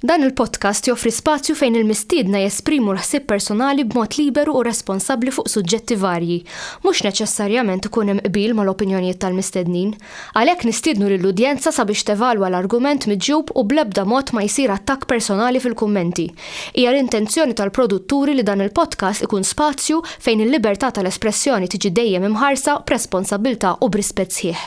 Dan il-podcast joffri spazju fejn il-mistiedna jesprimu l-ħsieb personali b'mod liberu u responsabbli fuq suġġetti varji. Mhux neċessarjament ikun hemm qbil mal-opinjonijiet tal-mistednin. Għalhekk nistiednu lill-udjenza sabiex tevalwa l-argument miġjub u bl-ebda mod ma jsir attakk personali fil-kummenti. Hija l-intenzjoni tal-produtturi li dan il-podcast ikun spazju fejn il-libertà tal-espressjoni tiġi dejjem imħarsa b'responsabbiltà u b'rispett sħiħ.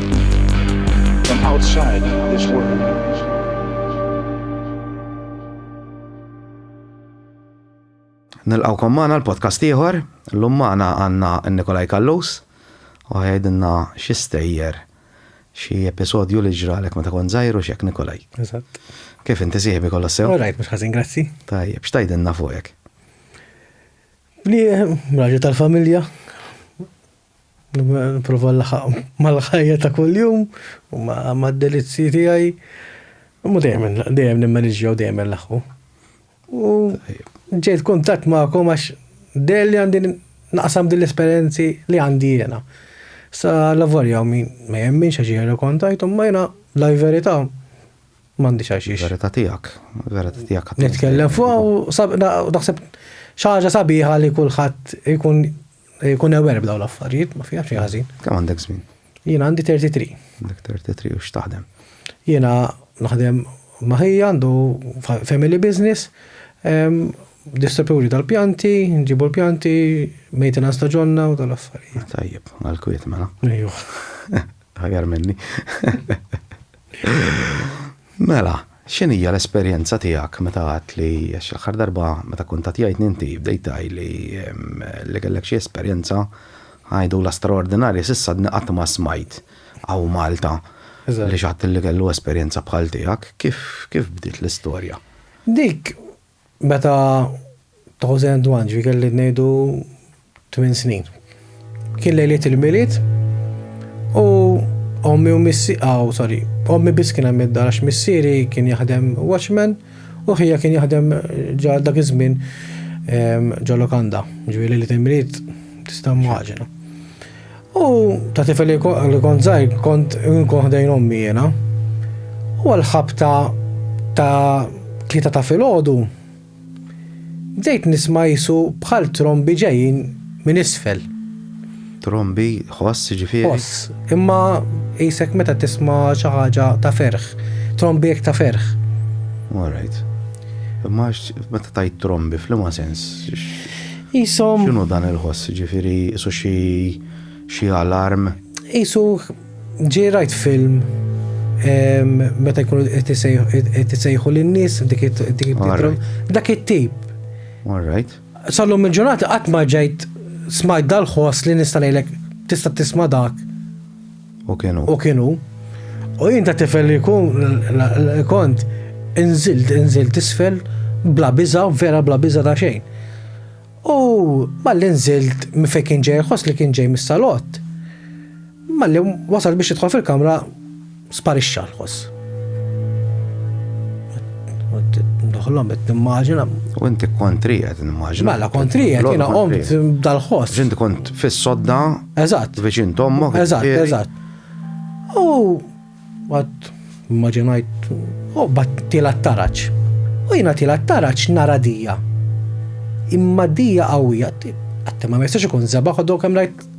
from outside this world. Nilqawkom maħna l-podcast ieħor, l-lum maħna għanna Nikolaj Kallus, u għajdinna xistejjer xie episodju li ġralek ma ta' kon zaħiru xiek Nikolaj. Eżatt. Kif inti siħbi kolla sew? Rajt, mux ħazin, grazzi. Tajjeb, xtajdinna fuqek? Li raġu tal-familja, Nipprova nlaħaq mal-ħajja ta' kuljum u mad-delizzji tiegħi. Imma dejjem dejjem nimmaniġġja u dejjem nlaħħu. U ġejt kuntatt magħkom għax dejjem li għandi naqsam din l-esperjenzi li għandi jiena. Sa l-avarja min ma jemminx għax jiena kontajt imma jiena la verità m'għandix għax. Verità tiegħek, verità tiegħek. Nitkellem fuq u naħseb xi ħaġa sabiħa li kulħadd ikun Jkun aware b'daw l-affarijiet, ma fiha xejn ħażin. Kemm għandek żmien? Jiena għandi 33. Għandek 33 u x'taħdem? Jiena naħdem ma' ħija għandu family business, distributuri tal-pjanti, nġibu l-pjanti, maintenance ta' ġonna u tal-affarijiet. Tajjeb, għal-kwiet mela. Ejju. Ħajar minni. Mela, x'inhija l-esperjenza tiegħek meta għedt li, għax l-aħħar darba meta kuntattjajtni inti bdejt tgħidli li kellek xi esperjenza għidula straordinarja, s'issa għadni qatt ma smajt hawn Malta li xi ħadd li kellu esperjenza bħal tiegħek. Kif bdiet l-istorja? Dik Meta Thousand and One ġi kelli ngħidu tmien snin. Kien lejliet il-milied u ommi u missi, aw, sorry, ommi biss kien hemm id-dar għax missieri kien jaħdem watchman u ħija kien jaħdem ġa dak iż-żmien ehm, ġo lokanda. Ġifieri lejliet il-milied tista' mmaġina. U ta' tifel li kont żgħir kont nkun ħdejn ommi jiena. U għall-ħabta ta' tlieta ta' filgħodu bdejt nisma' qisu bħal trombi ġejjin minn isfel. Trombi, ħoss jiġifieri? Ħoss, imma qisek meta tisma' xi ħaġa ta' ferħ, trombi hekk ta' ferħ. All right. Imma meta tgħid trombi, f'liema sens? Qishom. X'inhu dan il-ħoss, jiġifieri qisu xi xi alarm? Qisu ġej rajt film meta jkunu qed isejħu lin-nies dik it-titrom. Dak it-tip. All right. Sallum il-ġurnata qatt ma ġejt smajt dal-ħoss li nista' ngħidlek tista' tisma' dak. U kienu. U kienu. U jien ta' tifel li kun kont inżilt, inżilt isfel bla biża, vera bla biża ta' xejn. U malli nżilt minn fejn kien ġej ħoss li kien ġej mis-salott. Malli wasal biex jidħol fil-kamra sparixxa l-ħoss. Nħollom qed nimmaġina. U inti kontri qed nimmaġina. Mela kontri qed jiena qomt dal-ħoss. Ġinti kont fis-sodda. Eżatt. Viċin tommok. Eżatt, eżatt. U għad immaġinajt u bat tila taraċ. U jiena tila taraċ nara dija. Imma dija qawwija. Għattem ma mestax ikun zeba ħodok hemm rajt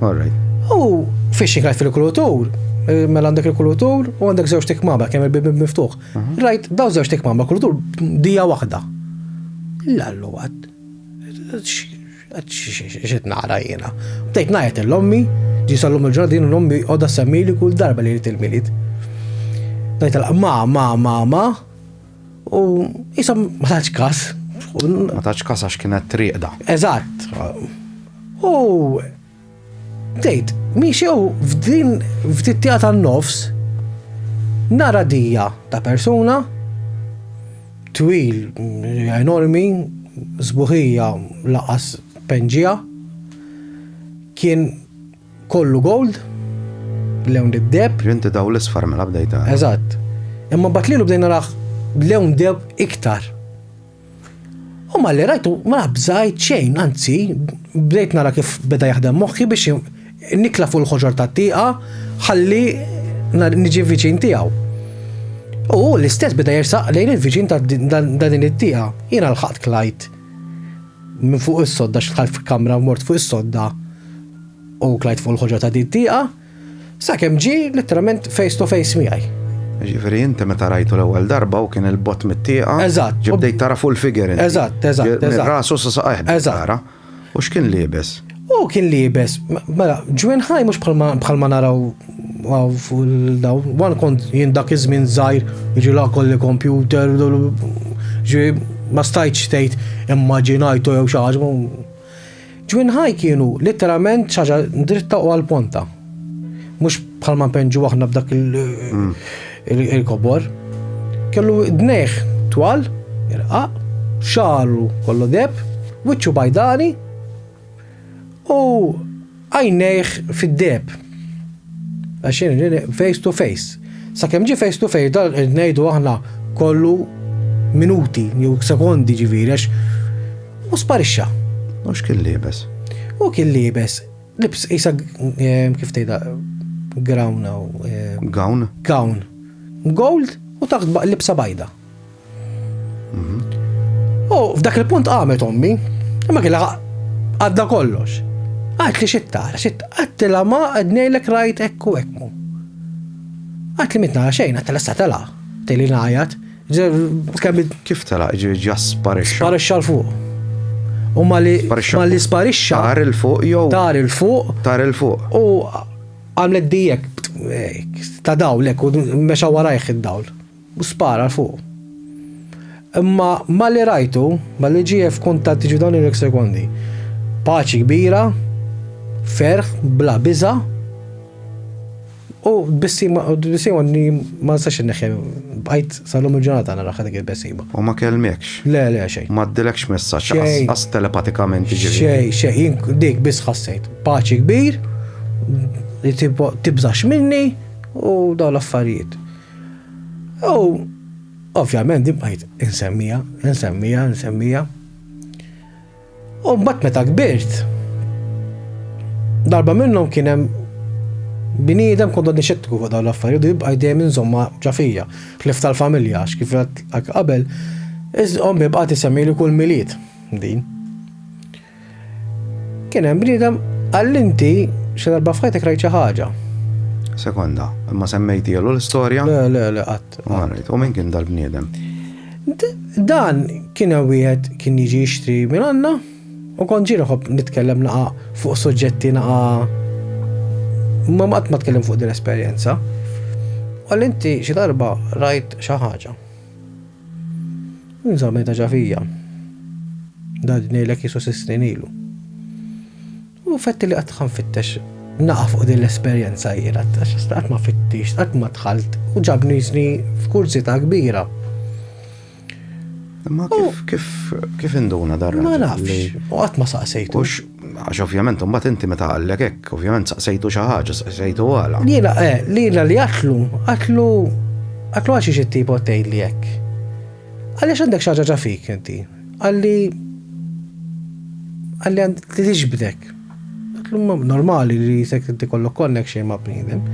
All right. U fiex xikajt fil-kulutur, eh, mela għandek il-kulutur u għandek żewġ tikmama kemm il-bibi miftuħ. Mhm. Rajt daw żewġ tikmama kulutur dija waħda. Lallu għad. Xit nara jiena. Bdejt ngħid l-ommi, ġi sallum il-ġardin l-ommi għodha semmili kull darba li jrid il-milit. Ngħid ma ma ma ma U jisom ma taċ kas. Ma taċ kas għax kienet triqda. Eżatt. U tgħid, miexew f'din f'tittija tan-nofs nara dija ta' persuna twil enormi zbuħija laqas penġija kien Kollu gold, lewn deb. Inti daw l-isfar mela bdejta. Eżatt. Imma bat lilu bdejna raħ lewn deb iktar. U ma li rajtu ma bżajt xejn, anzi, bdejt nara kif beda jaħdem moħħi biex nikla fuq il-ħoġor ta' tiqa ħalli niġi viċin tiegħu. U l-istess beda jersaq lejn il-viċin ta' dan it tiqa Jiena l-ħadd klajt Minn fuq is-sodda x'dħalt f'kamra u mort fuq is-sodda u klajt fuq il-ħoġa ta' din tieqa, sakemm ġie litteralment face to face miegħi. Ġifieri inti meta rajtu l-ewwel darba u kien il-bott mit-tieqa. Eżatt. Ġibdejt tara fuq il-figure. Eżatt, eżatt. Rasu sa saqajh. Eżatt. U x'kien liebes? U kien libes, mela, ġwen ħaj mhux bħalma naraw għaw daw, wan kont jien dak iż-żmien żgħir, jiġi la kolli kompjuter, ġi ma stajtx tgħid immaġinajtu jew xi ħaġa. Ġwin ħaj kienu literalment xaġa dritta u għal-ponta. Mhux bħalma penġu aħna b'dak mm. il-kobor. Kellu dneħ twal, irqaq, xaru kollu deb, wiċċu bajdani, U għajnejh fid-deb. Għaxin face to face. Sa' kem ġi face to face dal ngħidu aħna kollu minuti jew sekondi ġifieri għax u sparixxa. Mhux kien libes. U kien libes. Libs isa eh, kif tgħidha grawna u eh, gown. Gown. Gold u taħt libsa bajda. U f'dak il-punt qamet ommi, imma killa għadda kollox. Għat li xittara, xittara, għat li ma għadnejlek rajt ekku ekmu. Għat li mitna xejn, għat li s-satela, teli najat, Kif tela, ġa sparixxa. Sparixxa l-fuq. U ma li sparixxa. Tar il-fuq jow. Tar il-fuq. Tar il-fuq. U għamlet dijek, ta' dawl, u meċa warajħ id-dawl. U spara 'l fuq. Imma malli rajtu, malli ġie f'kuntatt jiġu dawn il-ek sekondi, paċi kbira, ferħ bla biża', u tbissima, u tbissima li ma nistax inneħħiha, bqajt sal-lum il-ġurnata naraha dik il-bessima. U ma kellmekx? Le, le, xejn. Ma għaddilekx messaġġ, lanqas telepatikament jiġifieri? Xejn, xejn, jien dik biss ħassejt. Paċi kbir, li tibżax minni, u dawn l-affarijiet. U ovvjament din bqajt insemmija, insemmija, insemmija. U mbagħad meta kbirt, darba minnhom kien hemm bniedem kont għadni xettiku fuq dawn l-affarijiet u jibqa' dejjem inżomma ġafija, ħlif tal-familja għax kif qabel, ommi bqgħet isemmi li kull milied din. Kien hemm bniedem qal inti xi darba f'ħajtek rajt xi ħaġa. Sekonda, imma semmejti għallu l-istorja? Le, le, le, qatt. U minn kien dal-bniedem? Dan kien wieħed kien jiġi jixtri minn għandna u kont ġiri ħobb nitkellem naqa fuq suġġetti naqa ma qatt ma tkellem fuq din l-esperjenza. Għal inti xi darba rajt xi ħaġa. Insa meta ġa fija. Dad ngħidlek jisu sitt snin ilu. U fetti li qatt nfittex naqa' fuq din l-esperjenza jiena, għax qatt ma fittix, qatt ma dħalt u ġabni jisni f'kurzita kbira. Ma kif kif induna darra? Ma nafx, u qatt ma saqsejtu. Għax ovvjament imbagħad inti meta qallek hekk, ovvjament saqsejtu xi ħaġa, saqsejtu għala. Lila, eh, lila li qatlu, qatlu, qatlu għal xiex it-tipo tgħidli hekk? Għaliex għandek xi ħaġa ġa fik inti? Qalli, qalli għand li tiġbdek. Qatlu normali li jisek inti kollok konnek xejn ma' bniedem.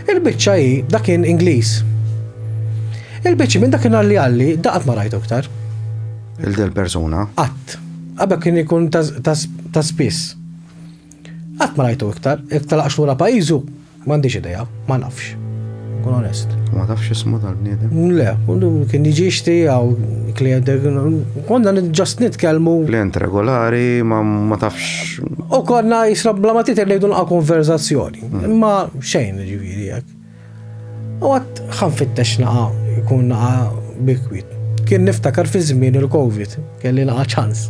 Il-biċċa hi dak kien Ingliż. Il-biċċi minn dak kien għalli għalli, daqat ma rajtu iktar. Il-del persuna? Qatt. Qabel kien ikun ta' spiss. Qatt ma rajtu iktar, jekk telaqx lura pajjiżu, m'għandix idea, ma nafx. Nkun onest. Ma tafx ismu tal-bniedem? Le, kien jiġi jixtri jew klient, konna ġast nitkellmu. Klient regolari, ma tafx. U konna jisra bla ma tither ngħidu nqa' konverżazzjoni. Imma xejn ġifieri hekk. U għat ħan fittex naqa jkun naqa bikwit. Kien niftakar fi żmien il-Covid, kelli naqa ċans.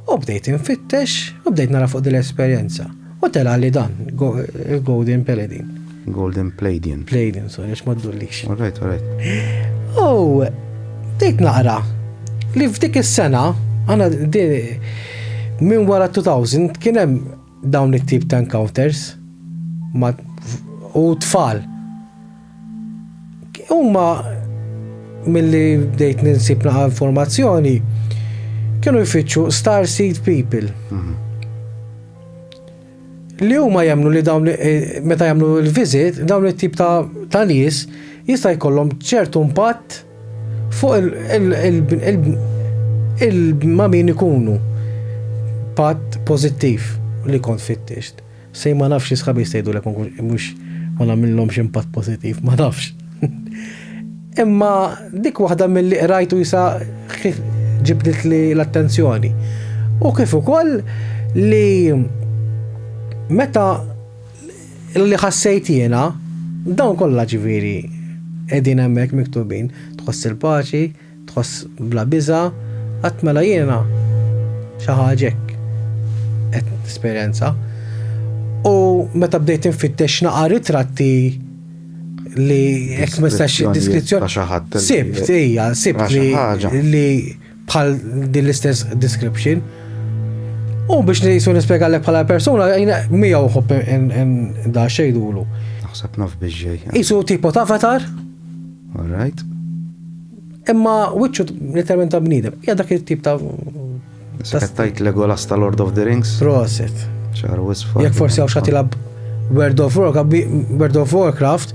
U bdejt infittex, u bdejt nara fuq din l-esperjenza. U tela li dan, il-Golden Paladin. Golden Palladian. Palladian, sorry, għax ma ddullix. All right, all right. U bdejt naqra li f'dik is-sena, għana minn wara 2000 kien hemm dawn it-tip ta' encounters ma' u tfal. Huma milli bdejt ninsib naqa' informazzjoni kienu jfittxu star seed people. Mhm. Li huma jemnu li dawn eh, meta jagħmlu l-visit, dawn it-tip ta' nies jista' jkollhom ċertu impatt Fuq il ma' min ikunu. Patt pożittiv li kont fittixt. Sej ma nafx xi sħabi jstgħidulek ma nkunx mhux ma nagħmilhomx impatt pożittiv, ma nafx. Imma dik waħda milli qrajt u issa ġibditli l-attenzjoni. U kif ukoll li meta li ħassejt jiena, dawn kollha ġifieri qegħdin hemmhekk miktubin, tħoss il-paċi, tħoss bla biża', qatt mela jiena xi ħaġa hekk qed nesperjenza. U meta bdejt infittex naqa' ritratti li hekk ma nistax diskrizzjoni ta' xi ħadd. Sibt hija, sibt li bħal din l-istess description. U biex nisu nispjega l bħala persuna, jina mija uħob da xejdulu. Naħseb naf biex ġej. Isu tipo ta' avatar. All right. Imma wiċċu literalment ta' bnidem. Ja dak il-tip ta' Settajt Legolas ta' Lord of the Rings. Proset. ċar wisfa. Jek forsi għaw xatilab World of Warcraft,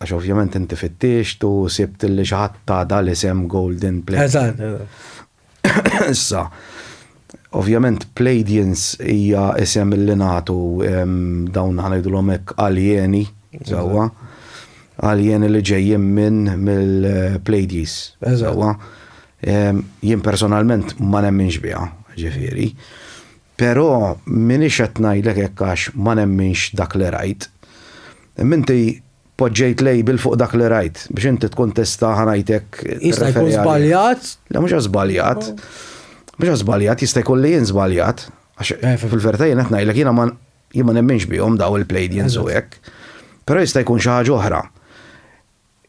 Għax ovvjament inti fittixt u sibt li xi ħadd ta' dal-isem Golden Plate. Eżatt, eżatt. Issa, ovvjament Pleiadians hija isem li nagħtu dawn ħanejdulhom hekk aljeni, sewwa. Aljeni li ġejjin minn mill-Pleiades. Eżatt. Jien personalment ma nemminx biha, ġifieri. Pero' m'iniex qed ngħidlek hekk għax ma nemminx dak li rajt. Imma inti poġġejt label fuq dak li rajt, biex inti tkun tista' ħa ngħidlek Jista' jkun żbaljat? Le mhux għax żbaljat. Mhux għax żbaljat, jista' jkun li jien żbaljat. Għax fil-verità jien qed ngħidlek jiena ma jien ma nemminx bihom dawn il-Pleiadians u hekk. Pero' jista' jkun xi ħaġa oħra.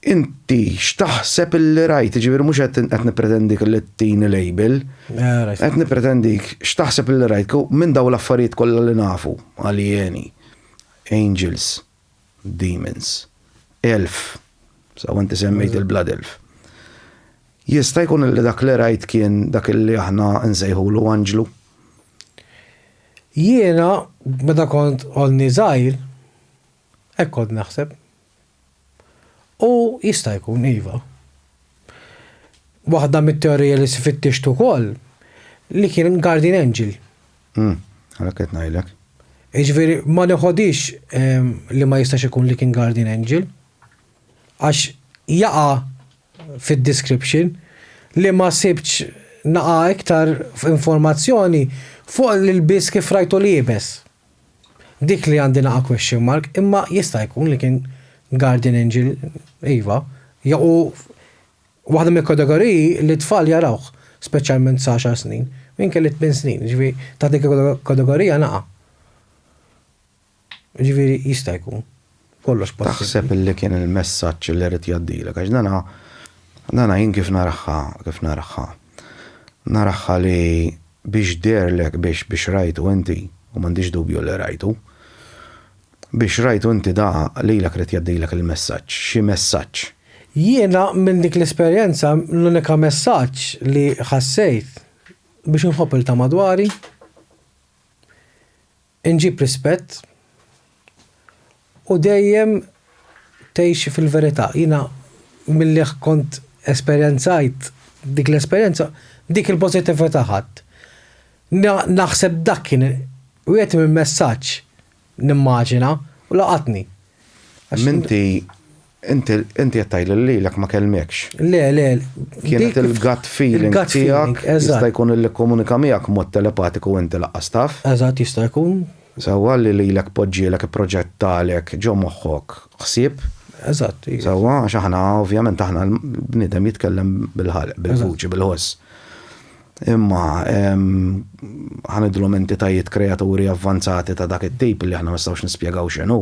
Inti x'taħseb li rajt, jiġifieri mhux qed nippretendik li tini label. Qed nippretendik x'taħseb li rajt minn dawn l-affarijiet kollha li nafu, aljeni, angels, demons, elf, sew inti semmejt il-blood elf. Jista' jkun li dak li rajt kien dak li aħna nsejħulu anġlu? Jiena meta kont għodni żgħir hekk kont naħseb. U jista' jkun, iva. Waħda mit-teorija li sfittixt ukoll li kien guardian angel. Għalhekk qed ngħidlek. Jiġifieri ma neħodix ehm, li ma jistax ikun li kien guardian angel. Għax jaqa' fid-description li ma sibtx naqa' iktar informazzjoni fuq l-ilbies kif rajtu liebes. Dik li għandi naqa' question mark imma jista' jkun li kien guardian angel iva jew hu waħda mill-kategoriji li t-tfal jarawh speċjalment sa għaxar snin u jien kelli tmien snin jiġifieri taħt dik il-kategorija naqa'. Jiġifieri jista' jkun. kollox possibbli. Taħseb li kien il-messaġġ li ried jgħaddilek għax dan dan jien kif naraha kif naraha naraha li biex deherlek biex biex rajtu inti u m'għandix dubju li rajtu biex rajtu inti da lilek ried jgħaddilek il-messaġġ xi messaġġ. Jiena minn dik l-esperjenza l-unika messaġġ li ħassejt biex inħobb lil ta' madwari Inġib rispett u dejjem tgħixi fil-verità. Jiena milli kont esperjenzajt dik l-esperjenza, dik il-pożittività ħadt. Naħseb dak kien wieħed mill-messaġġ, nimmaġina, u laqatni. M'inti Inti inti qed tgħid li lilek ma kellmekx. Le, le. Kienet il-gut feeling tiegħek jista' jkun li kkomunika miegħek b'mod telepatiku inti lanqas taf. Eżatt jista' jkun. Sewwa li lilek poġġielek ipproġettalek ġo moħħok ħsieb. Eżatt. Sewwa għax aħna ovvjament aħna l-bniedem jitkellem bil-ħalq, bil-vuċi, bil-ħoss. Imma ħa nidhru entitajiet kreaturi avvanzati ta' dak it-tip li aħna ma nistgħux nispjegaw x'inhu.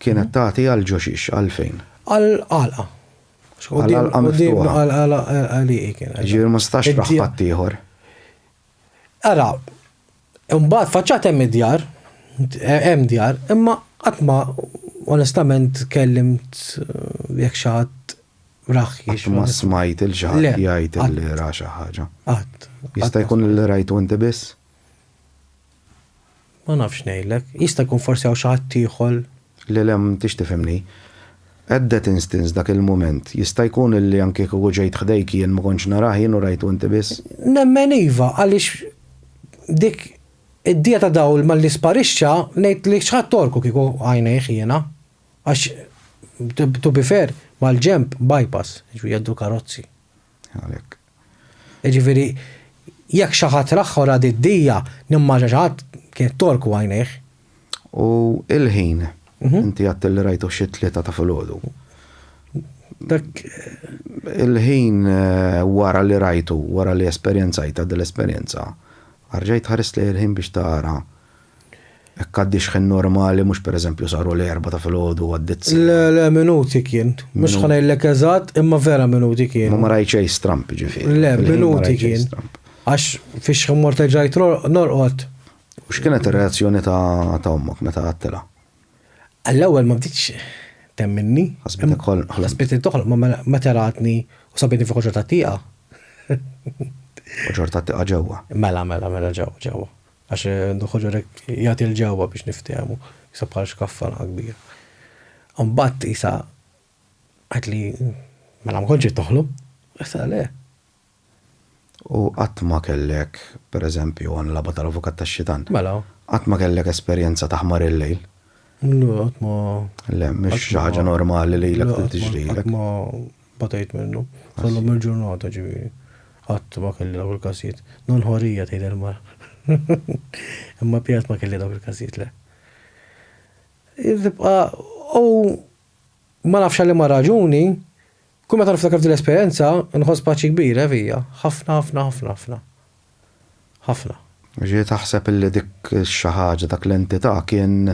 Kienet tagħti għal ġo xiex? Għalfejn? Għal għalqa. Għal għalqa miftuħa. Għal għalqa li hi kienet. Ġifieri ma setax tbaħħ ħaddieħor. Ara, imbagħad faċċat hemm id-djar, hemm djar, imma qatt ma onestament kellimt eh, jekk xi ħadd raħ jiex. Ma smajt il-xi ħadd jgħid li ra xi ħaġa. Qatt. Jista' jkun li rajtu inti biss? Ma nafx ngħidlek. Jista' jkun forsi hawn xi ħadd ieħor. Le, le, m'intix tifhimni. At that instance, dak il-mument, jista' jkun illi anki kieku ġejt ħdejk jien ma kontx narah jien u rajtu inti biss? Nemmen iva, għaliex dik id-dija ta' dawl malli sparixxa, ngħid li x'ħadd għorku kieku għajnejh jiena. Għax, to be fair, mal-ġenb, bypass, jiġifieri jgħaddu l-karozzi. Għalhekk. Jiġifieri, jekk xi ħadd raħħu ra d-dija, nimmaġina xi ħadd kienet tgħorku għajnejh. U l-ħin, inti għedtilli rajtuh xi t-tlieta ta' filgħodu. Dak. Il-ħin eh, wara li rajtu, wara li esperjenzajta dil-esperjenza, arġajt ħarist lejn il-ħin biex tara Hekk għaddi xħin normali, mhux pereżempju saru l-erbgħa ta' filgħodu u għaddiet siegħa. Le, le, minuti kien. Mhux ħa ngħidlek eżatt, imma vera minuti kien. Ma ma rajt xejn stramp, ġifieri. Le, minuti kien. Għax fix xħin mort ġajt norqod. U x'kienet ir-reazzjoni ta' ommok meta għattela? Għall-ewwel ma bditx temminni. Ħasbitek ħolm. Ħasbitek toħol, ma mela, ma teratni u sabini fuq ġorta tiqa. Ġorta tiqa ġewwa. Mela, mela, mela ġewwa, ġewwa. Għax Dun Ħoġor hekk jagħti l-ġewwa biex niftehmu, qisha bħal xkaffa nħa kbira. Imbagħad qisha għidli, mela ma kontx qed toħlom? Qisha le. U qatt ma kellek, per eżempju, ħa nilgħabha tal-avukat tax-xitan. Mela. Qatt ma kellek esperjenza ta' ħmar il-lejl? Le, qatt ma. Le, mhix xi ħaġa normali lilek li tiġrilek. Le, qatt ma Batejt minnu. Sal-lum il-ġurnata ġifieri. Qatt ma kelli dawk il-każijiet. Non horija tgħid il-mara. Imma pjat ma kelli dawk il-każijiet le. Tibqa' u ma nafx għal liema raġuni, kull meta niftakar f'din l-esperjenza nħoss paċi kbira fija. Ħafna ħafna ħafna ħafna. Ħafna. Jiġifieri taħseb illi dik xi ħaġa, dak l-entità kien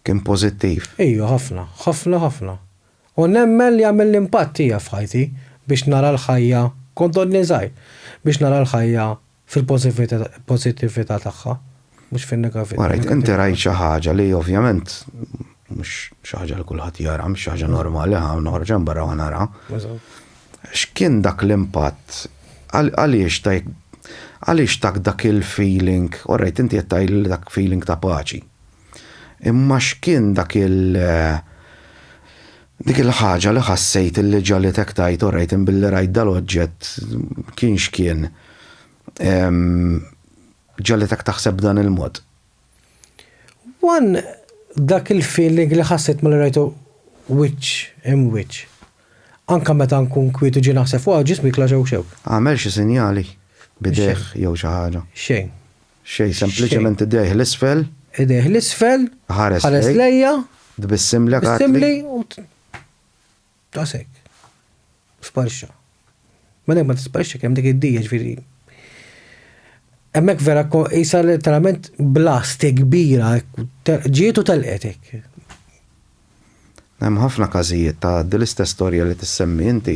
kien pożittiv. Iju, ħafna. Ħafna, ħafna. U nemmen li għamilt l-impatt tiegħi f'ħajti biex nara l-ħajja, kont għodni żgħir, biex nara l-ħajja fil-pożittività tagħha, mhux fin-negatività. Ma rajt, inti rajt xi ħaġa li ovvjament mhux xi ħaġa li kulħadd jara, mhux xi ħaġa normali, ħa noħroġ hemm barra u nara. X'kien dak l-impatt? Għaliex tajk għaliex tak dak il-feeling, orrejt inti qed tgħidli dak feeling ta' paċi. Imma x'kien dak il dik il-ħaġa li ħassejt illi ġagħlitek tgħid orajt in billi rajt dal-oġġett kien x'kien ġagħlitek taħseb b'dan il-mod? One dak il-feeling li ħassejt malli rajtu wiċċ imb wiċċ. Anke meta nkun kwiet u ġej naħseb fuqha ġismi jitla' xewk xewk. Għamel xi sinjali b'idejh jew xi ħaġa? Xejn. Xejn, sempliċement idejh 'l isfel. Idejh 'l isfel, ħares lejja. Tbissimlek, għatli. Tbissimli u. Daqshekk. Sparixxa. Mela jekk ma tisparixxa kemm dik id-dija ġifieri. Hemmhekk vera qisha letteralment blast kbira ġiet u telqetek. Hemm ħafna każijiet ta' dil-istess storja li tissemmi inti.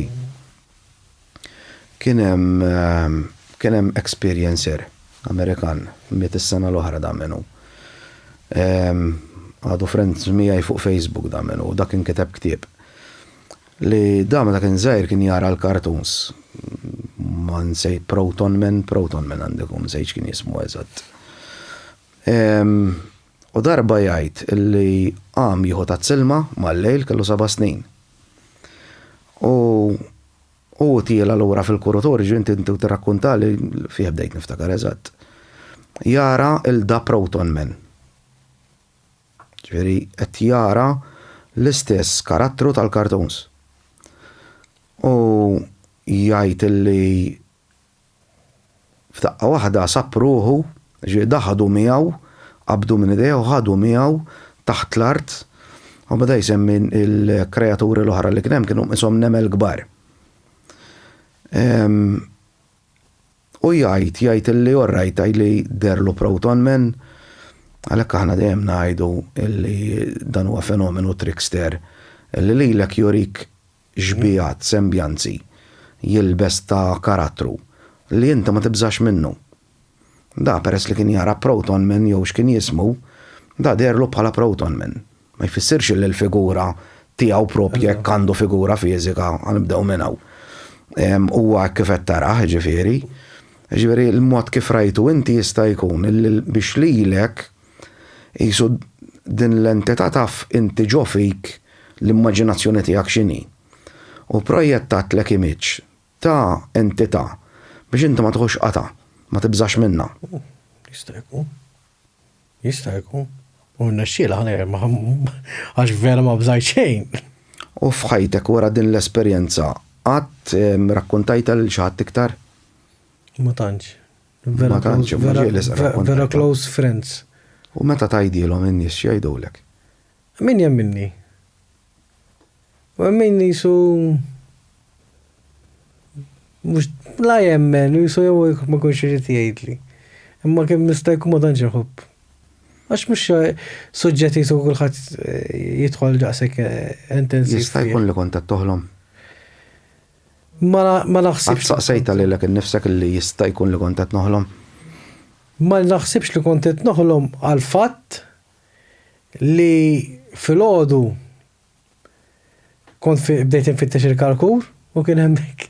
Kien hemm kien hemm experiencer Amerikan, miet is-sena l-oħra da min hu. Għadu friends miegħi fuq Facebook da min hu, da kien kiteb ktieb. Li da meta kien żgħir kien jara l-cartoons, ma nsejt Protonmen, Protonmen għandu jkun, m'nsejtx kien jismu eżatt. U darba jgħid li qam jieħu tazz-ilma mal-lejl kellu seba' snin. U u tiela lura fil-kurutorju inti inti tirrakkuntali fih bdejt niftakar eżatt. Jara il da Proton Man. Ġifieri qed jara l-istess karattru tal-kartuns. U jgħid li F'daqqa waħda sab ruħu, ġieda ħadu miegħu, qabdu minn idejh u ħadu miegħu taħt l-art, u beda jsemmi l-kreaturi l-oħra li kien hemm kienu qishom nemel kbar. U jgħid, jgħid li orrajt tajli derlu Proton Man, għalhekk aħna dejjem ngħidu li dan huwa fenomenu trickster li lilek jurik xbiehat, sembjanzi, jilbes ta' karattru, li inti ma tibżax minnu. Da, peress li kien jara Proton Man jew x'kien jismu, da deherlu bħala Proton Man. Ma jfissirx li l-figura tiegħu proprja jekk għandu figura fiżika, ħa nibdew minn hawn. Huwa hekk kif qed tarah, jiġifieri. Jiġifieri l-mod kif rajtu inti jista' jkun li biex lilek, Qisu din l-entità taf inti ġo fik l-immaġinazzjoni tiegħek x'inhi. U pprojjettattlek image ta' entità biex inti ma tieħux qatgħa, ma tibżax minnha. Jista' jkun. Jista' jkun. U rnexxielha għax vera ma bżajt xejn. U f'ħajtek wara din l-esperjenza qatt rakkontajtha lil xi ħadd iktar? Ma tantx. Vera tantx imma ġej li sqra kont. Vera close friends. U meta tgħidilhom in-nies x'jgħidulek? Min jemminni? U hemm min qisu mhux la jemmen, qisu jew ma jkunx irid jgħidli. Imma kemm nista' jkun ma tantx inħobb. Għax mhux suġġett jisu kulħadd eh, jidħol daqshekk eh, intensiv. Jista' jkun li kont qed toħlom? Ma naħsibx. Saqsejta lilek innifsek li jista' jkun li kont qed noħlom? Ma naħsibx li kont qed noħlom għall-fatt li filgħodu kont bdejt infittex il-kalkur u kien hemmhekk.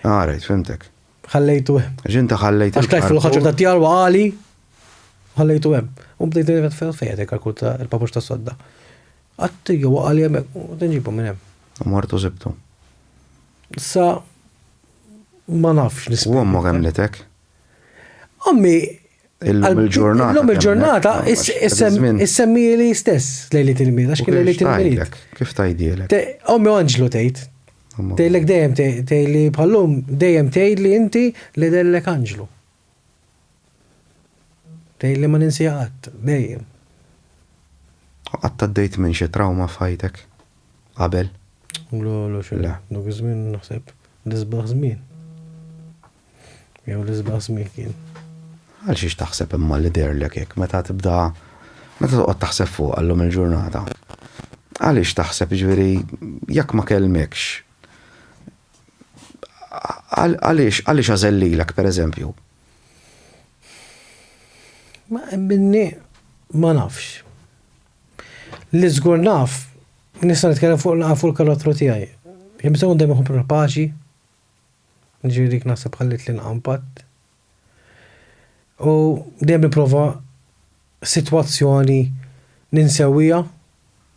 Ah, rajt, fimtek. ħallejtu hemm. Għax inta ħallejt. Għax tlajt fil-ħaġa ta' djar waqali, ħallejtu hemm. U bdejt nirvet fejn fejn dik għal ta' il-papux ta' sodda. Għatti jew waqali hemm u tinġibu minn hemm. U martu zibtu. Sa ma nafx nisma. U għamma kemm litek? Għammi. Illum il-ġurnata. Illum il-ġurnata, issemmi li stess lejli til-mil, għax kien lejli til-mil. Kif tajdilek? Ommi għanġlu tejt, Tgħidlek dejjem tgħidli bħallum dejjem tgħidli inti li dellek anġlu. Tgħidli ma ninsiha qatt, dejjem. Qatt għaddejt minn xi trawma f'ħajtek? Qabel? Le, le xejn. Dak iż-żmien naħseb l-isbaħ żmien. Jew l-isbaħ żmien kien. Għal xiex taħseb imma li derlek hekk meta tibda meta toqgħod taħseb fuq għallum il-ġurnata. Għaliex taħseb ġifieri jekk ma kelmekx għaliex għaliex għażellilek pereżempju? Ma minni ma nafx. Li żgur naf, nista' nitkellem fuq fuq il-karattru tiegħi. Jien bżonn dejjem ikun paċi, Ġifieri dik naħseb ħallitli nqampad. U dejjem nipprova sitwazzjoni ninsewija.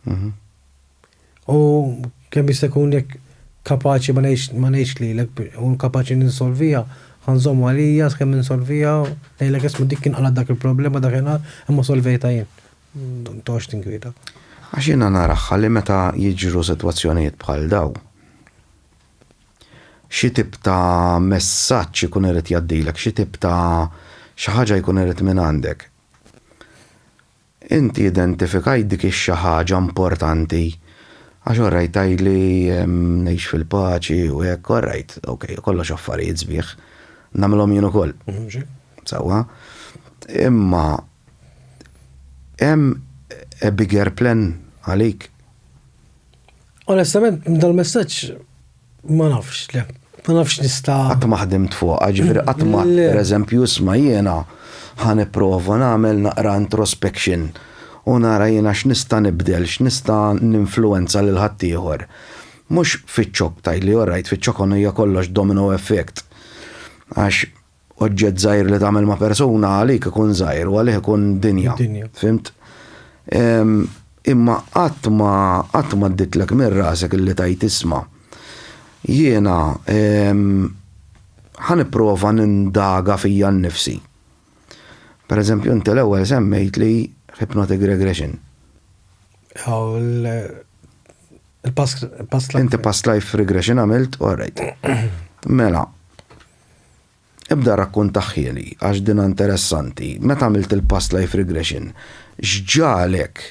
Mhm. U kemm jista' jkun jekk kapaċi ma ngħidx ma ngħidx lilek u kapaċi ninsolvija, ħanżomm għalija skemm ninsolvija, ngħidlek isma' dik kien għala dak il-problema dakinhar imma solvejtha jien. Toqgħodx tinkwieta. Għax jiena naraha li meta jiġru sitwazzjonijiet bħal dawn, xi tip ta' messaġġ ikun irid jgħaddilek, xi tip ta' xi ħaġa jkun irid mingħandek. Inti identifikajt dik ix-xi ħaġa importanti għax orajt tgħidli ngħix fil-paċi u hekk, orajt, ok, kollox affarijiet sbieħ, nagħmilhom jien ukoll. Sewwa. Imma hemm a bigger plan għalik? Onestament, dal-messaġġ ma nafx, le. Ma nafx nista. Qatt ma ħdimt fuq, ġifieri qatt ma, per eżempju, isma' jiena ħan ipprova nagħmel naqra introspection u nara jiena x'nista' nibdel, x'nista' ninfluwenza lil ħaddieħor. Mhux fiċ-ċokk tgħidli, orajt, fiċ-ċokk hija kollox domino effect. Għax oġġett żgħir li tagħmel ma' persuna għalik ikun żgħir u għalih ikun dinja. Fimt? Imma qatt ma qatt ma dditlek minn rasek illi tajt isma' jiena ħa nipprova nindaga fija nnifsi. Per eżempju, inti l-ewwel semmejt li hypnotic regression. Il-past life. Inti past life regression għamilt, all right. Mela, Ibda rakkuntahieli għax dinha interessanti. Meta għamilt il-past life regression, x'ġagħlek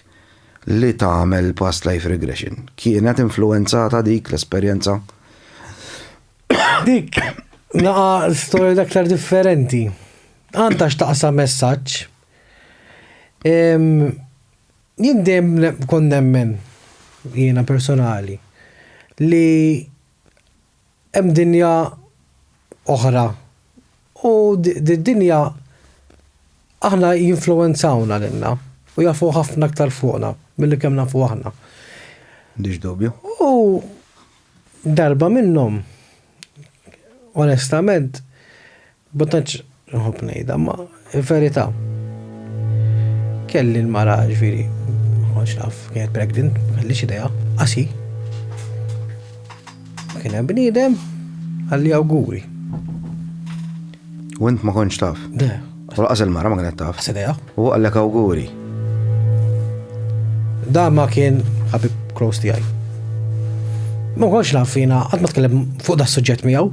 li tagħmel past life regression? Kienet influwenzata dik l-esperjenza? Dik, naqa storja l-aktar differenti. Għandha x'taqsam messaġġ. Jien dejjem kont nemmen, jiena personali, li Hemm dinja oħra u did-dinja aħna jinfluwenzawna lilna u jafu ħafna aktar fuqna milli kemm nafu aħna. M'għandix dubju. U darba minnhom, onestament, Ma tantx nħobb ngħidha, ma verità. Kelli l-mara ġifieri, ma kontx naf kienet pregnant, ma kellix idea, qasi. Ma kien hemm bniedem għalli awguri. U int ma kontx taf? De. U laqas il-mara ma kienet taf? Qas idea. U għallek awguri. Da ma kien ħabib close tiegħi. Ma kontx naf fina, qatt ma tkellem fuq da suġġett miegħu.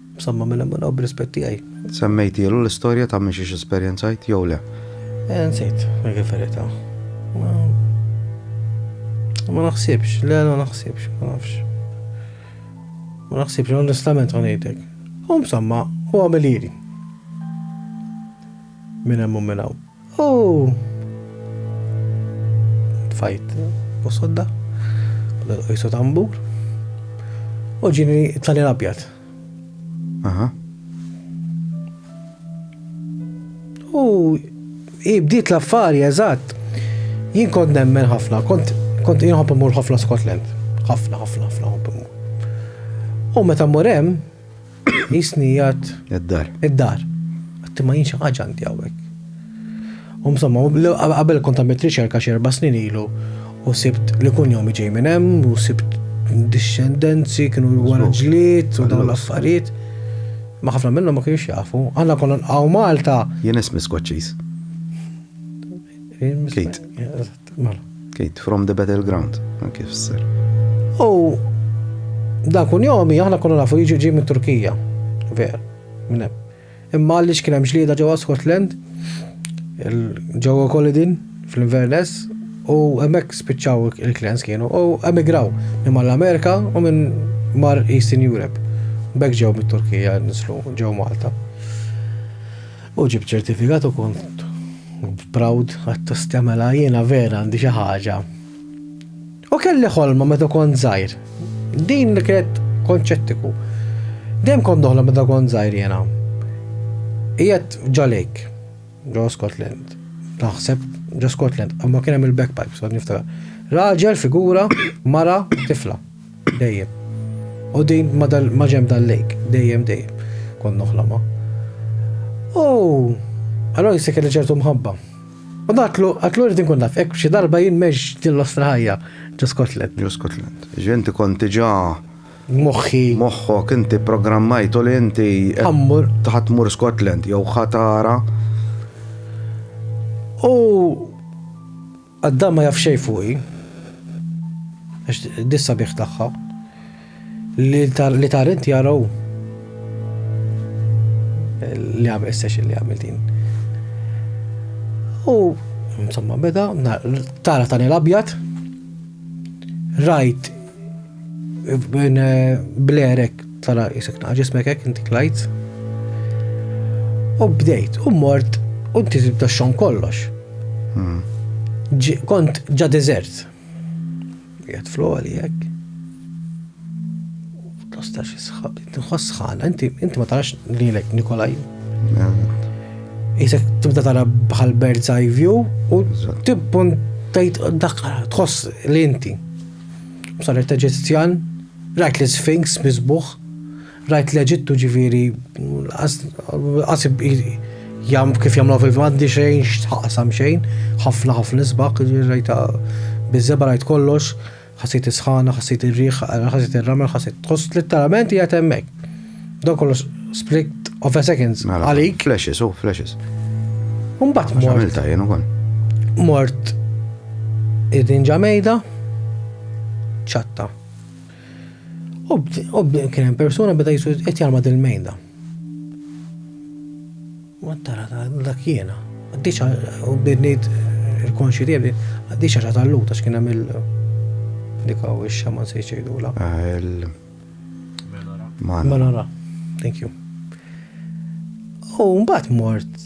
Msamma minn hemm 'il hawn b'rispett tiegħi. Semmejtielu l-istorja ta' minn xiex esperjenzajt jew le? Eh, nsejt, dik il-verità. Ma. Ma naħsibx, le, ma naħsibx, ma nafx. Ma naħsibx, onestament ma ngħidlek. Hu msamma, hu għamilieri. Minn hemm u minn hawn. U tfajt u sodda, u l-qajsu tambur, u ġini tali l-abjad. Aha. U ibdiet l-affari, eżatt. Jien kont nemmen ħafna, kont kont jinħobb imur ħafna Scotland. ħafna, ħafna, ħafna ħobb imur. U meta mmur hemm, Jisni jgħat. Id-dar. Id-dar. Għatti ma jinxa ħagġa għandi għawek. U msomma, għabel kont għamilt riċerka xerba snin ilu u sibt li kun jomi ġej minn hemm u sibt discendenzi kienu jwara ġliet u dawn l-affarijiet. Ma ħafna minnhom ma kienx jafu. Għanna konna nqaw Malta. Jien ismi skoċċiż. Kate. Mela. Kejt, from the battleground, anke fisser. U dan kun jomi, aħna konna nafu jiġi ġi minn Turkija. Ver, minn hemm. Imma għalli xkien hemm ġlieda ġewwa Scotland, ġewwa Kolidin, fl-Inverness, u hemmhekk spiċċaw il-klens kienu, u emigraw minn mal-Amerika u minn mar Eastern Europe. Bek ġew mit-Turkija nislu ġew Malta. U ġibt ċertifikat u kont proud għat mela jiena vera għandi xi ħaġa. U kelli ħolma meta kont żgħir. Din li kienet konċettiku. Dejjem kont doħla meta kont żgħir jiena. Qiegħed ġalejk, ġo Scotland. Naħseb ġo Scotland, imma kien hemm il-backpipes, għad niftakar. Raġel, figura, mara, tifla. Dejjem. U din ma dal ma ġenb dal-lake. Dejjem dejjem. Kont noħlomha. U allora jista' kelli ċertu mħabba. U datlu, għatlu rrid nkun naf, hekk xi darba jien meġ din l-ostra ħajja ġo Scotland. Ġo Scotland. Ġi inti kont diġà Moħħi. Moħħok inti programmajtu li inti Ħammur. Ħadd mur Scotland jew ħatara. U Adam ma jaf xejn fuqi, għax di s-sabiħ tagħha, li ta' rint jara hu. Li għamil session li għamil din. U, insomma, beda, tara ta' l-abjad, rajt Bin eh, blerek tala jisek naqa ġismek ek inti klajt. U bdejt, u mort, u inti tibda xon kollox. Hmm. Kont ġa dizert. Jgħat flu għali jek. Tostax jisħab, nħoss ħana, inti ma tarax li l-ek Nikolaj. Jisek tibda tara bħal bird's eye view u tibbun tajt daqqara, tħoss li inti. Saret Eġizzjan, rajt l-Isfinx miżbugħ, rajt l-Eġittu ġifieri qasib jam kif jagħmlu fil m'għandi xejn x'taqsam xejn, ħafna ħafna isbaħ, rajta biżeba rajt kollox, ħassejt is-sħana, ħassejt ir-riħ, ħassejt ir-ramel, ħassejt, tħoss litteralment qiegħed hemmhekk. Dan kollu split of a seconds mela, għalik. Flashes, oh, flashes. Umbat mort. Għamilta jenu kon. Mort id-din ġamejda, ċatta. U kien hemm persuna beda jisu qed jarma dil-mejda. Ma tara dak jiena. Għaddix u bidnit il-konxi tiegħi għaddix għax tal-luta x'kien hemm il-dikaw ix-xaman se jgħidula. Ah, Menora. Menora. Thank you. U mbagħad mort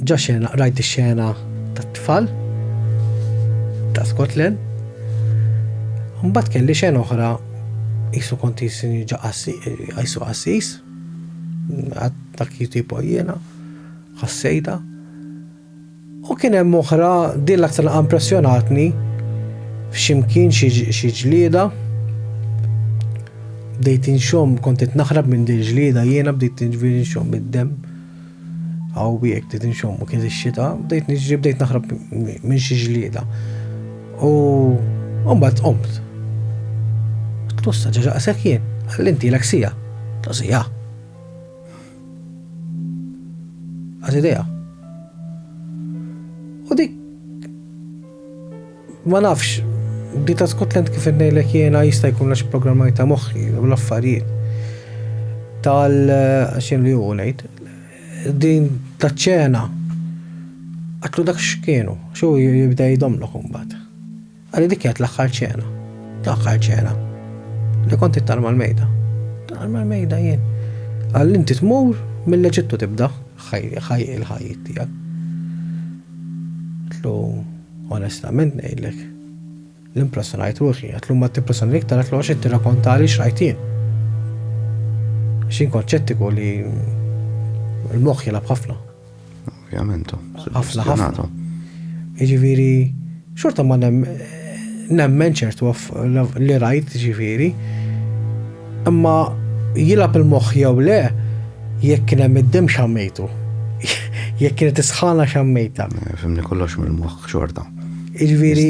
ġa xena, rajt ix-xena tat-tfal ta' Scotland. Mbagħad kelli xena oħra jisu konti sinni ġa jisu qassis. Dak jitipo jiena, ħassejda. U kien hemm oħra, din l-aktar laqgħa impressjonatni, f'x'imkien xi ġlieda. Bdejt inxomm, kont qed naħrab minn din ġlieda jiena bdejt niġri nxomm mid-demm. Hawnhekk bdejt inxomm u kien ix-xita, bdejt niġri bdejt naħrab minn xi ġlieda. U mbagħad qomt. Tlussa ġaġaqsek jien, għallintilek sija. Sija. Għad idea. U dik ma nafx di ta' Scotland kif innejlek jiena jista' jkun għax programmajta moħħi u l-affarijiet tal xinu li hu ngħid din ta' ċena għatlu dak x'kienu xu jibda jdomlok imbagħad. Għalli dik kienet l-aħħar ċena. L-aħħar ċena. Li kont it-tarm għal-mejda. Tarm għal-mejda jien. Għalli inti tmur mill-Eġittu tibda ħaj il-ħajjit tiegħek. Tlu onestament ngħidlek l-impressjonajt ruħi, għatlu ma t-impressjon li ktar għatlu għaxin t-rakonta li xrajtin. Xin konċettiku li l-moħ jilab ħafna, Ovvjament. Ħafna ħafna. Jiġifieri xorta ma nemmen ċertu li rajt ġifieri. Imma jilab il-moħħ jew le jekk kien hemm id-dem xammejtu. Jekk kienet isħana xammejta. Fimni kollox mill-moħħ xorta. Jiġifieri.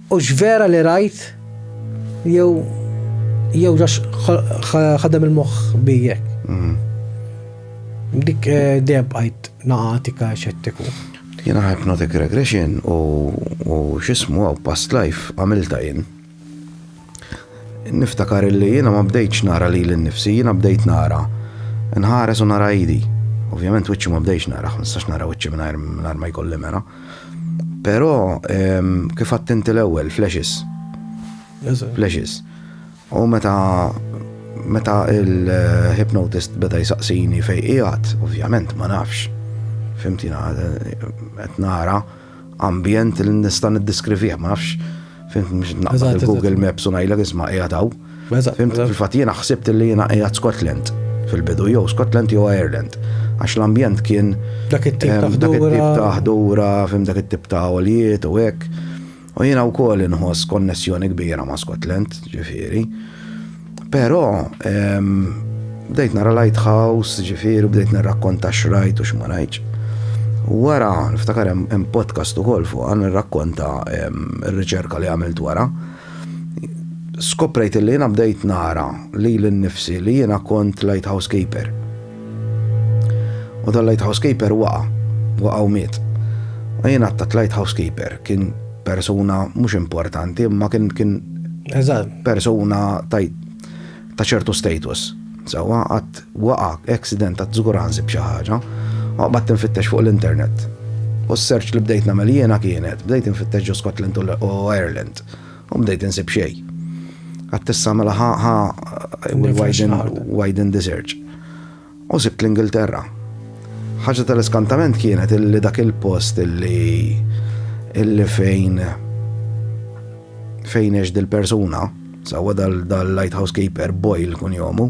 Hux vera li rajt jew jew ġax ħadem il-moħħ bi hekk. Mm. Dik eh, dejjem bqajt naqatika xettiku. Jiena hypnotic regression u x'ismu għaw past life għamilta jien. Niftakar li jiena ma bdejtx nara li l-nifsi, jiena bdejt nara nħares u nara idi. Ovvjament wiċċi ma bdejx nara, nistax nara wiċċi mingħajr ma jkolli mera. Però ehm, kif għadt inti l-ewwel, flashes. Flashes. U meta meta il-hypnotist beda jisaqsini fej qiegħed, ovvjament ma nafx. Fimtina, qed nara ambjent li nista' niddiskrivih, ma nafx Fint mhux naqbad Google Maps u ngħidlek isma' qiegħed hawn. Fint fil-fatt jiena ħsibt li jiena qiegħed Scotland fil-bidu jew Scotland jew Ireland. Għax l-ambjent kien dak it-tip ta' ħdura, fim dak it-tip ta' għolijiet u hekk. U jiena wkoll inħoss konnessjoni kbira ma' Scotland, ġifieri. Però bdejt nara Lighthouse, ġifieri bdejt nirrakkonta x'rajt u x'ma rajtx. Wara, niftakar hemm podcast ukoll fuq għan nirrakkonta r-riċerka li għamilt wara. Skoprejt li jiena bdejt nara li l-nifsi li jiena kont Lighthouse Keeper. U dan lighthouse keeper waqa', waqa' u miet. U jien għattat lighthouse keeper kien persuna mhux importanti, imma kien kien persuna ta' ċertu status. Sawa għat waqa' accident ta' żguranzi b'xi ħaġa, u għabat tinfittex fuq l-internet. U s-search li bdejt nagħmel jiena kienet, bdejt infittex ġo Scotland u Ireland. U bdejt insib xej. Għattissa mela ħa ħa widen, widen the search. U sibt l-Ingilterra. ħaġa tal-iskantament kienet illi dak il-post illi illi fejn fejn eġ dil-persuna, sawa dal-light housekeeper Boyle kun jomu,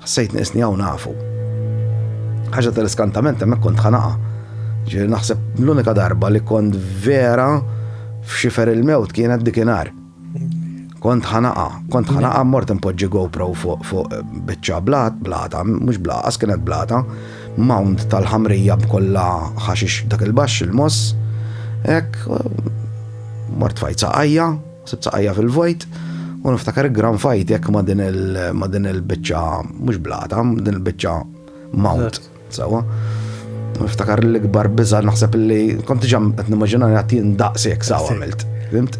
Ħassejt nieqesni hawn nafu. Ħaġa tal-iskantament hemmhekk kont ħanaqa. Ġifieri naħseb l-unika darba li kont vera f'xifer il-mewt kienet dikinhar. Kont ħanaqa, kont ħanaqa mort impoġġi GoPro fuq biċċa blat, blata, mhux blaqa, kienet blata, mound tal-ħamrija b'kollha ħaxix dak il-baxx il-moss, hekk mort fajt saqajja, Sibt saqajja fil-vojt u niftakar gran fajtek ma' din il-biċċa mhux blata, din il-biċċa mount. Sawa. Niftakar l-ikbar biża naħseb li kont ġam qed nimmaġina li għattin daqsek sawa għamilt. Fimt?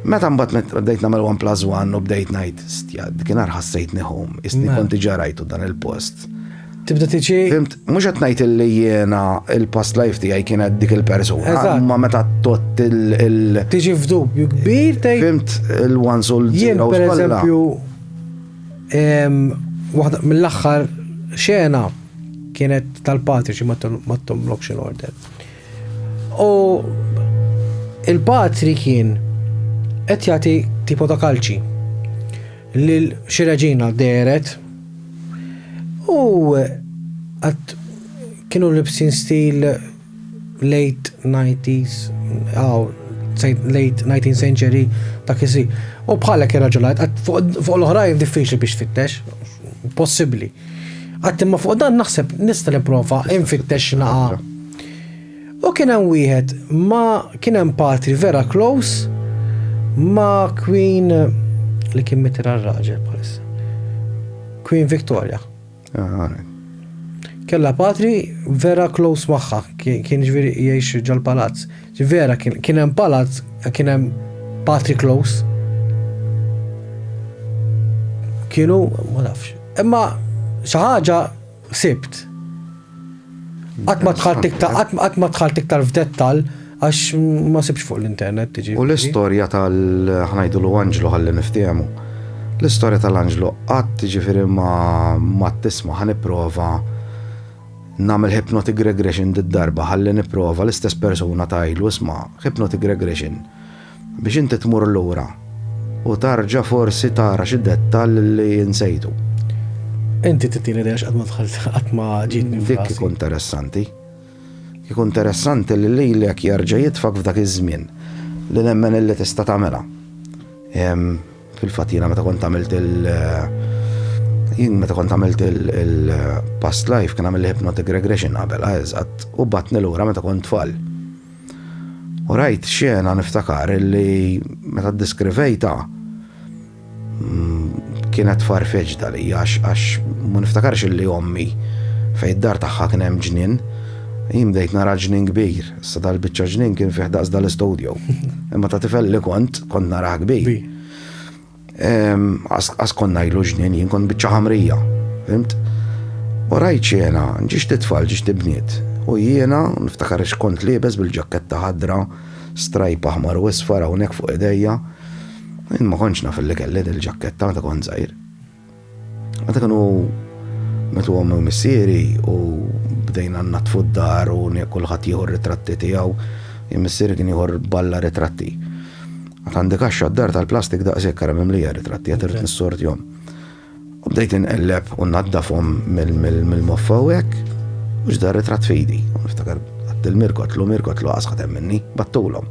Meta mbagħad bdejt nagħmel 1 plus 1 u bdejt ngħid stja kien ħassejtni home, isni kont ġarajtu dan il-post. tibda tiġi. Fimt, mhux qed ngħid li jiena il-past life tiegħi kienet dik il-persuna. Ma meta tot il- Tiġi f'dubju kbir tej. Fimt il-one soul Jien per eżempju waħda mill-aħħar xena kienet tal-patriċi ma tom loction order. U il-patri kien qed jagħti tipo ta' kalċi. li xi reġina deret u għat kienu libsin stil late 90s, aw, late 19th century ta' kisi. U bħalek irraġunajt, fuq l-oħrajn diffiċli biex tfittex, possibli. Għat imma fuq dan naħseb nista' nipprova infittex naqa' U kien hemm wieħed ma kien hemm patri vera close ma Queen li kien mitir għal-raġel bħalissa. Queen Victoria. Kella patri vera close magħha, kien ġviri jgħix ġol-palazz. Vera kien hemm palazz, kien hemm patri close. Kienu, ma nafx. Imma xi ħaġa Ħsibt. Qatt ma dħalt iktar, qatt ma dħalt iktar f'dettall għax ma sibx fuq l-internet tiġi. U l-istorja tal-ħnajdu l-Anġlu ħalli niftiemu. L-istorja tal-Anġlu qatt tiġifieri ma tisma' ħa nipprova nagħmel hypnotic regression d-darba ħalli nipprova l-istess persuna tajlu isma' hypnotic regression. Biex inti tmur lura u tarġa' forsi tara xi dettall li nsejtu. Inti tittieni idea x'qatt ma dħalt qatt ma ġietni f'rasi. Dik ikun interessanti. Ikun interessanti li lilek jerġa' jitfak f'dak iż-żmien li nemmen illi tista' tagħmilha. Fil-fatt jiena meta kont għamilt il- jien meta kont għamilt il-past life kien għamil hypnotic regression qabel, eżatt, u batni lura meta kont tfal. U rajt xena niftakar li meta ddiskrivejta mm, kienet farfeġda li għax għax ma niftakarx li ommi fej id-dar tagħha kien hemm ġnien. Jien bdejt nara ġnien kbir, sa dal-biċċa ġnien kien fih daqs dal-istudju. Imma ta' tifel li kont, kont nara kbir. Għas kon najlu ġnien, jien kon bieċa ħamrija, fimt? U rajt xiena, ġiġ titfall, ġiġ tibniet. U jiena, niftakar xkont libes bil-ġakketta ħadra, strajp aħmar u isfar hawnhekk fuq idejja. Jien ma kontx naf li kelli il-ġakketta meta kont żgħir. Għadha kanu metu għom u missieri u bdejna natfu d-dar u kulħadd jieħu ritratti tiegħu. Missieri kien jieħor balla ritratti. Għad għandi kaxxa d-dar tal-plastik daqshekk kara mimlija ritratti għad irid nissortjhom. U bdejt inqelleb u naddafhom mill-moffa u hekk u ġdar ritratt fidi. Niftakar għattil mirkot lu mirkot lu għasħat minni battulhom.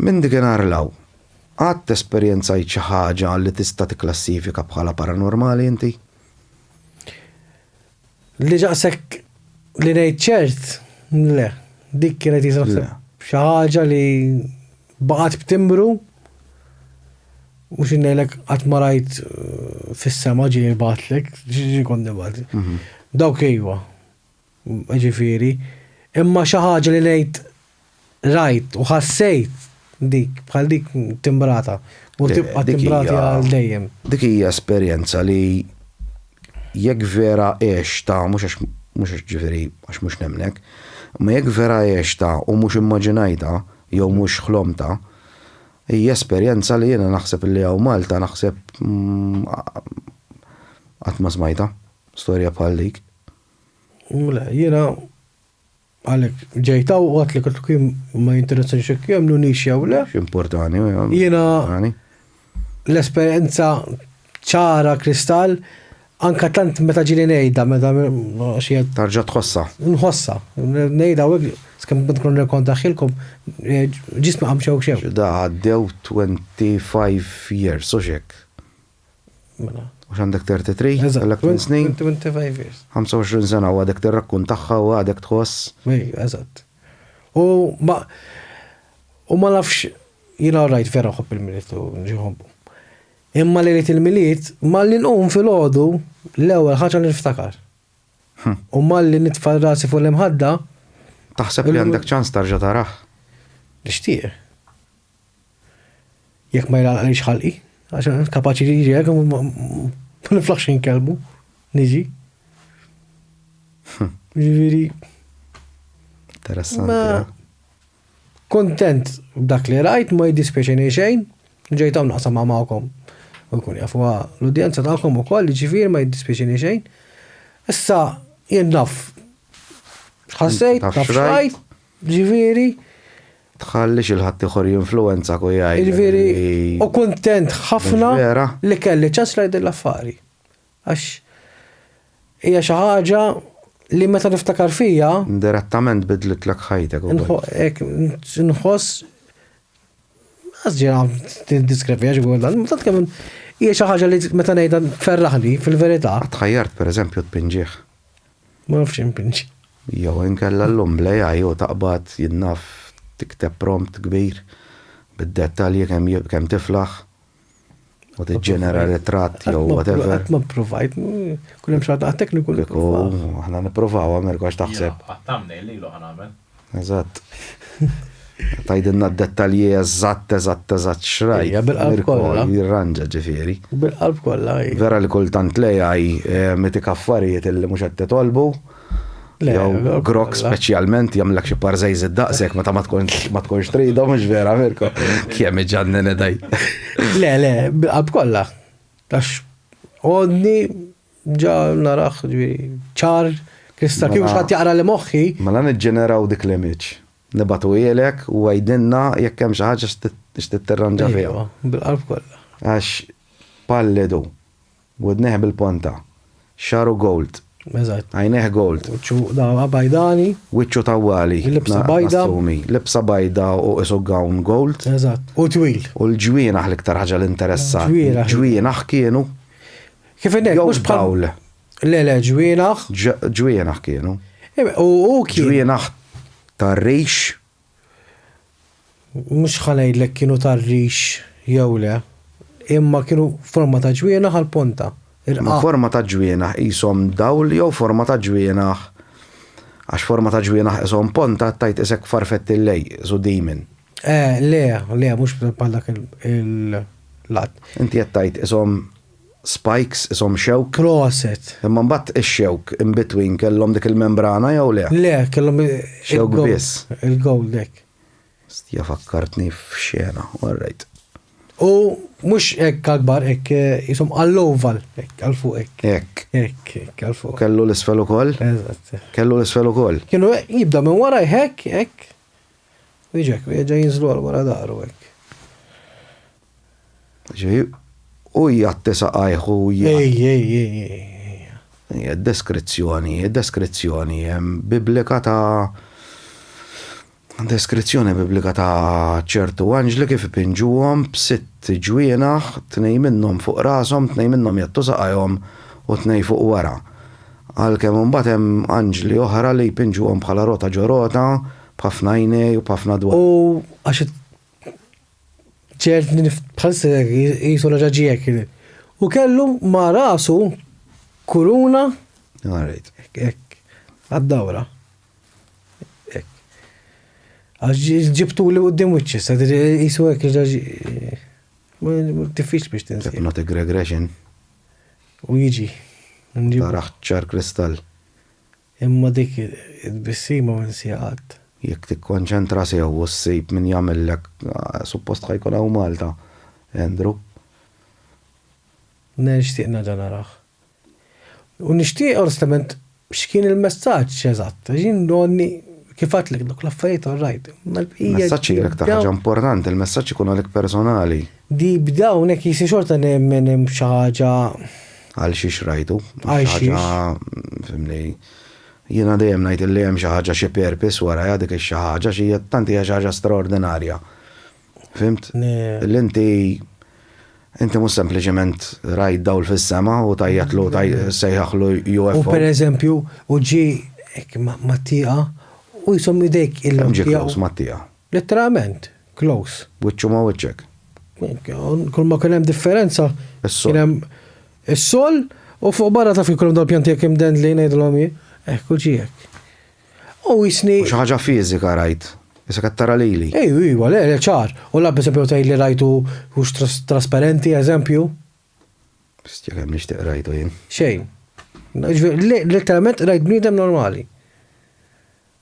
Minn dikinhar 'l hawn, qatt esperjenzajt xi ħaġa li tista' tikklassifika bħala paranormali inti? Li daqshekk li ngħid ċert, le. Dik kienet jisa naħseb xi ħaġa li baqgħet b'timbru u xi ngħidlek qatt ma rajt fis-sema ġieli jbagħatlek, ġieli kont nibgħat. Dawk ejwa. jiġifieri, imma xi ħaġa li ngħid rajt u ħassejt dik bħal dik timbrata u tibqa' timbrati għal dejjem. Dik hija esperjenza li jekk vera għextha, mhux għax mhux għax ġifieri għax mhux nemmnek, imma jekk vera għextha u mhux immaġinajtha jew mhux ħlomtha, hija esperjenza li jiena naħseb illi hawn Malta naħseb qatt ma smajtha, storja bħal dik. Le, jiena għalhekk ġejt hawn u għadt li kif kien ma jinteressani xi kemm nunix jew le. X'importani. Jiena l-esperjenza ċara kristall anka tant meta ġili ngħidha meta xi tarġa' tħossha. Nħossha, ngħidha u skemm kont kun nirkontaħħilkom ġisma qam xew xew. Da għaddew 25 years u x'hekk. Mela. U x'għandek 33? Eżatt. Kellek 8 snin. 25 years. 25 sena u għadek tirrakkuntaha u għadek tħoss. Ej, eżatt. U ma u ma nafx jiena rajt vera ħobb il-miliet u nġiħobbu. Imma li rrit il-miliet, ma li nqum fil-ħodu l-ewwel ħaġa li niftakar. Hm. U ma li nitfa' rasi fuq l-imħadda. Taħseb li għandek ċans tarġa' taraħ? Nixtieq. Jekk ma jlalqnix ħalqi, għax kapaċi li jiġi hekk ma niflaħx inkelmu, niġi. Ġifieri. Interessanti. Eh? Kontent b'dak li rajt ma jiddispjaċini xejn, ġejt hawn naqsam magħkom. U jkun jafu l-udjenza tagħkom ukoll, ġifieri ma jiddispjaċini xejn. Issa jien naf. Ħassejt, naf xrajt. Ġifieri. Tħallix il ħadd ieħor jinfluwenzak u jgħidlek. Ġifieri u kuntent ħafna li kelli ċans ngħid din l-affari. Għax hija xi ħaġa li meta niftakar fija. Indirettament bidlitlek ħajtek. Nħoss. Għazġira tindiskrepi għax għu dan, tant kemm hija xi ħaġa li meta ngħidha ferraħni fil-verità. Tħajjart pereżempju tpinġieħ. Ma nafx impinġi. Jew inkella llum bl-AI u taqbad jien naf tikteb prompt kbir bid-dettalji kemm jib kemm tiflaħ u tiġġenera ritratt jew whatever. Qatt ma ppruvajt, kull hemm xi waħda għat-tekniku. Kieku aħna nippruvaw Americo x'taħseb? Għat-thumbnail lilu ħa nagħmel. Eżatt. Tajdinna d-dettalji eżatt, eżatt, eżatt xraj. Ja, bil-qalb kollha. Jirranġa ġifieri. Bil-qalb kollha. Vera li kultant lejaj eh, meti kaffarijiet li mhux qed titolbu. Jew grok speċjalment jagħmlek xi parżejż id-daqsek meta ma tkunx trida mhux vera Mirko. Kemm iġanni daj. Le, le, bil-qalb kollha. Tax għodni Ġa narah, ġifieri, ċar, kristall, kieku xi ħadd jaqra li moħħi. Mela niġġeneraw dik l-image. Nibagħtuhielek u għidilna jekk hemm xi ħaġa x'trid tirranġa fiha. Ejwa, bil-qalb kollha. Għax pallidu, widnejh bil-ponta, xagħru gold, għajnejh gold. Wiċċu dagħwa bajdani. Wiċċu tawwali. Libsa bajda. Libsa bajda u qisu gown gold. Eżatt. U twil. U l-ġwienaħ l-iktar ħaġa li interessatni. Ġwienaħ. Ġwienaħ kienu. Kif innek, Jew mhux bħal. dawl. Le, le, ġwienaħ. Ġ- Ġwienaħ kienu. Ebe, U u kien. Ġwienaħ tar-rix. Mhux ħanejdlek kienu tar-rix jew le. Imma kienu forma ta' ġwienaħ għal ponta. Ma Irqa. forma ta' ġwienaħ qishom dawl jew forma ta' ġwienaħ. Għax forma ta' ġwienaħ qishom ponta tajt isek farfett il-lej, isu dimin. Eh, le, le, mhux bħal dak il- il-lat. Inti qed tajt qishom spikes ishom xewk. Proset. Imma mbagħad ix-xewk in between kellhom dik il-membrana jew le? Le, kellhom il. Xewk biss. Il-gold hekk. Stija fakkartni f'xena, orrejt. U mhux hekk għall-kbar hekk ishom għall-oval hekk għal fuq hekk. Hekk. Hekk hekk għal fuq. Kellu l-isfel ukoll? Eżatt. Kellu l-isfel ukoll? Kienu jibda minn wara hekk hekk. Jiġek, jiġa jinżlu għal wara daru hekk. Ġi, u jgħatti saqajh u j. Ej, ej, ej, ej, ej. Hija d-deskrizzjoni, deskrizzjoni Biblika ta' deskrizzjoni Biblika ta' ċertu anġli kif ipinġuhom b'sitt ġwienaħ, tnejn minnhom fuq rashom, tnejn minnhom jgħattu saqajhom u tnejn fuq wara. Għalkemm imbagħad hemm anġli oħra li jpinġuhom bħala rota ġo rota, b'ħafna għajnej u b'ħafna dwal. U għax Ċert li bħalissa qisu raġa ġiek. U kellu ma' rasu kuruna. Għarajt, ek, għad-dawra. Ek. Għax ġibtu li għoddim wiċċi, sadri jisu ek ġaġi. Tifix biex tinsi. Not a regression. U jiġi. Taraħ ċar kristall. Imma dik it-tbissima ma ninsiha qatt. Jekk tikkonċentra sew u ssib min jagħmillek, suppost ħa jkun hawn Malta, Andrew. Nixtieq nerġa' narah. U nixtieq onestament x'kien il-messaġġ eżatt, għax jien donni kif għedtlek dawk l-affarijiet all right, imma l-bqija. Messaġġ jgħidlek ta' ħaġa importanti, il-messaġġ ikun għalik personali. Deep down hekk jisir xorta nemmen hemm xi ħaġa. Għal xiex rajtu? Għal xiex? Fimni, jiena dejjem ngħid li hemm xi ħaġa xi purpose warajha dik ix-xi ħaġa xi tant hija xi ħaġa straordinarja. Fimt? Li inti inti mhux sempliċement rajt dawl fis-sema u tajjatlu sejħaħlu UFO. U pereżempju, u ġi ma tieqa u jisom idejk il-ġieħ. Ġieħ ma tieqa. Letteralment. close. Wiċċu ma' wiċċek. Kull ma kien hemm differenza. Kien hemm is-sol u fuq barra taf kif kien hemm dawn pjanti hekk imdendlin ngħidilhom jien. Hekk u ġie hekk. U jisni. Xi ħaġa fiżika rajt. Issa qed tara lili. Ejju, ejju, le, le, ċar. U la pereżempju tgħid li rajtu hux trasparenti, eżempju. Bistja kemm nixtieq rajtu jien. Xejn. Letteralment rajt bniedem normali.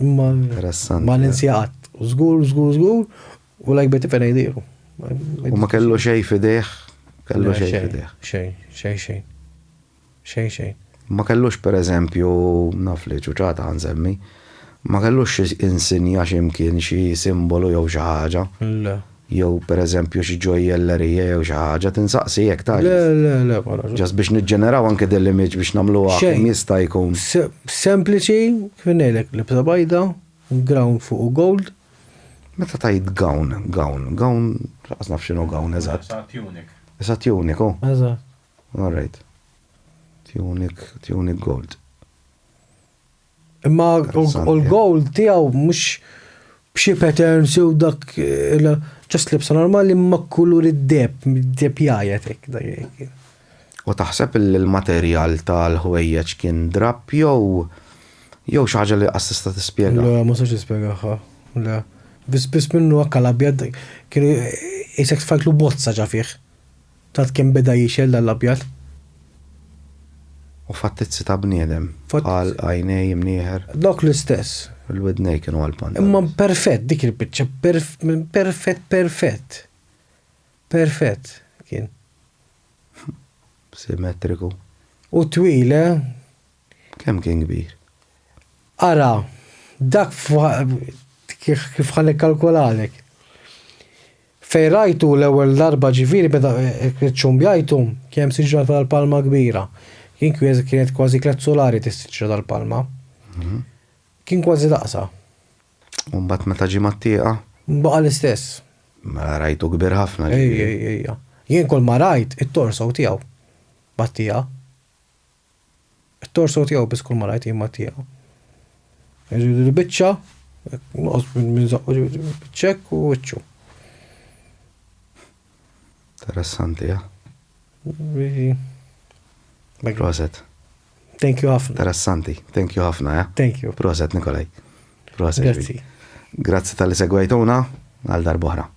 Imma ma ninsi qatt. Żgur, żgur, żgur, u lajk beti fejn jdiru. U ma kellu xej fidejh, kellu xej fidejh. Xej, xej, xej. Xej, xej. Ma kellux per eżempju, naf li ċuċata għanżemmi, ma kellux insinja ximkien xi simbolu jew xi ħaġa. Le. Jew pereżempju xi ġojjellerija jew xi ħaġa tinsaqsi jekk tajjeb. Le, le, le, ma nafx. Ġast biex niġġeneraw anke din l-image biex nagħmluha kemm jista' jkun. Sempliċi, kif ngħidlek, libsa bajda, gown fuq gold. Meta tgħid gown, gown, gown, laqqas naf x'inhu gown eżatt. Sa tunic. Sa tunic, hu? Eżatt. All right. Tunic, tunic gold. Imma u l-gowl tiegħu mhux b'xi patterns jew dak ġast libsa normali ma kulur id-deb, id-deb jgħajjet hekk dak. U taħseb li l-materjal tal-ħwejjeġ kien drapp jew jew xi ħaġa li qas tista' tispjega? Le, ma sax nispjegahha. Le. Biss biss minnu hekk l-abjad kienu jisek tfajtlu bozza ġa fih. Tat kemm beda jixgħel dan l-abjad. U fattizzi ta' bniedem. Bħal għajnej imnieħer. Dawk l-istess. Il-widnej kienu għal pandanus. Imma perfett dik il-biċċa, perfett perfett. Perfett kien. Simetriku. U twil, eh? Kemm kien kbir? Ara, dak kif ħa nikkalkolalek. Fejn rajtu l-ewwel darba ġifieri meta ċċumbjajtu, kien siġra tal-palma kbira. Kien kwies kienet kważi tliet sulari tas-siġra tal-palma. Kien kważi daqsha. U mbagħad meta ġie mat-tieqa? Baqa' l-istess. Mela rajtu kbir ħafna ġifieri. Ejja, ejja, ejja. Jien kull ma rajt it-torso tiegħu mat-tieqa. It-torso tiegħu biss kull ma rajt jien ma tiegħu. Il-biċċa, noqgħod minn zaqqu ċekk u wiċċu. Interessanti, ja? Proset. Thank you ħafna. Interessanti. Thank you ħafna, ja? Thank you. Proset, Nikolaj. Proset. Grazzi. Grazzi tal-li segwajtuna għal darbohra.